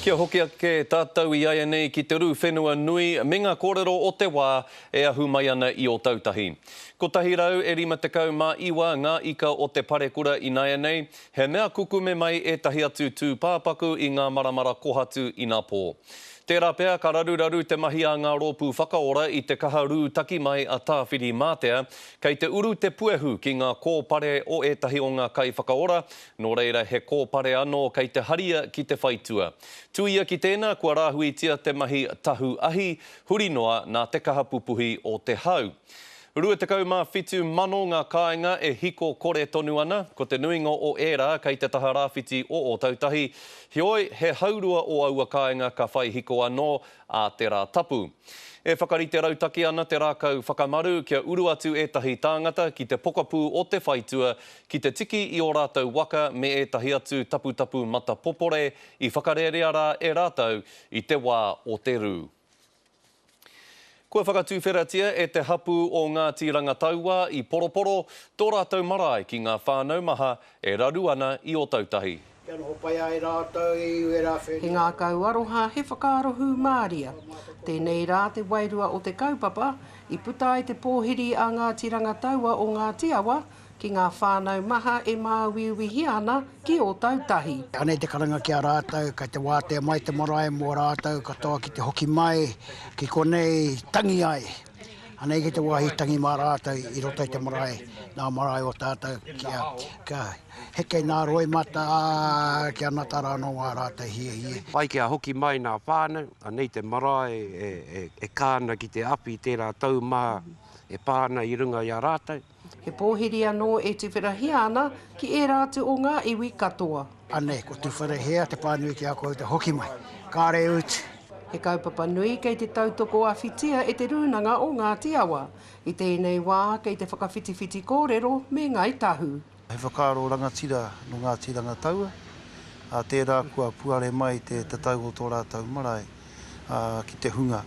Kia hoki ake tātou i āianei ki te rū whenua nui me ngā kōrero o te wā e ahu mai ana i Ōtautahi. 159 ngā ika o te parekura ināianei, he mea kukume mai ētahi atu tūpāpaku i ngā maramara kohatu inapō. Tērā pea ka raruraru te mahi a ngā rōpū whakaora i te kaha rū taki mai a Tāwhiri Mātea, kei te uru te puehu ki ngā kōpare o ētahi o ngā kaiwhakaora Nō reira he kōpare anō kei te haria ki te whaitua. Tuia ki tēnā kua rāhuitia te mahi tahu ahi, huri noa nā te kaha pupuhi o te hau. 27,000 ngā kāinga e hiko kore tonu ana, ko te nuinga o ērā kei te taha rāwhiti o Ōtautahi. Heoi, he haurua o aua kāinga ka whai hiko anō, a te Rā Tapu. E whakarite rautaki ana te rākau whakamaru kia uru atu ētahi tāngata ki te pokapū o te whaitua ki te tiki i ō rātou waka me ētahi atu taputapu matapopore i whakarerea rā e rātou i te wā o te rū. Kua whakatuwheratia e te hapū o Ngāti Rangataua i Poroporo tō rātou marae ki ngā whānau maha E raru ana i Otautahi. Kia noho pai ai rātou e Iuera whenua. He ngākau aroha, he whakaaro hūmāria. Tēnei rā te wairua o te kaupapa i puta ai te pōhiri a Ngāti Rangataua o Ngāti Awa ki ngā whānau maha e māuiuihia ana ki Otautahi. Anei te karanga ki a rātou, kei te wātea mai te marae mō rātou katoa ki te hoki mai ki konei tangi ai. Anei ki te wāhi tangi mā rātou i roto i te marae, nā marae o tātou kia, kia heke nā roimata, ā, kia nata rānō wā rātou hiehie. Pai kia hoki mai nā whānau, anei te marae e, e, e kā ana ki te awhi tērā tau maha e pā ana i runga i a rātou. He pōhiri anō e tuwharahia ana ki ērā atu o ngā iwi katoa. Anei, ko Tuwharahia te pānui ki a koutou hoki mai. Kāre ūtu! He kaupapa nui kei te tautoko awhitia e Te Rūnanga o Ngāti Awa. I tēnei wā, kei te whakawhitiwhiti kōrero me Ngāi Tahu. He whakaaro rangatira nō Ngāti Rangataua, ā, tērā kua puare mai te tatau o tō rātou marae. ki te hunga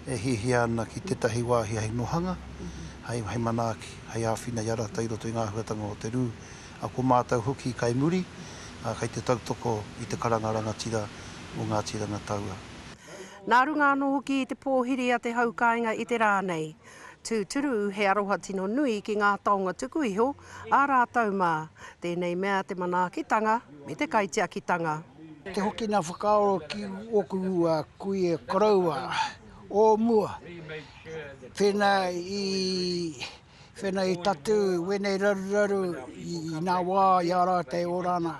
e hiahia ana ki tētahi wāhi hei nohanga, hei manaaki, hei āwhina i a rātou i roto i ngā āhuatanga o te rū. Ko mātou hoki kai muri, kai te tautoko i te karanga rangatira o Ngāti Rangataua. Nā runga anō hoki i te pōhiri a te hau kāinga i te rā nei, tūturu he aroha tino nui ki ngā taonga tuku iho, ā rātou mā, tēnei mea te manaakitanga me te kaitiakitanga. Te hoki nā whakaaro ki ōku kuia koroua o mua, whena i whena i tatū wēnei raruraru i nā wā i a rātou e ora ana,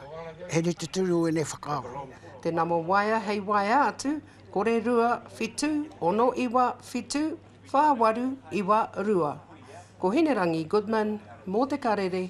he rite tonu wēnei whakaaro. Te nama waea hei waea atu, kore rua, whitu, ono iwa, whitu, whā waru, iwa, rua. Ko Hinerangi Goodman mō Te Karere.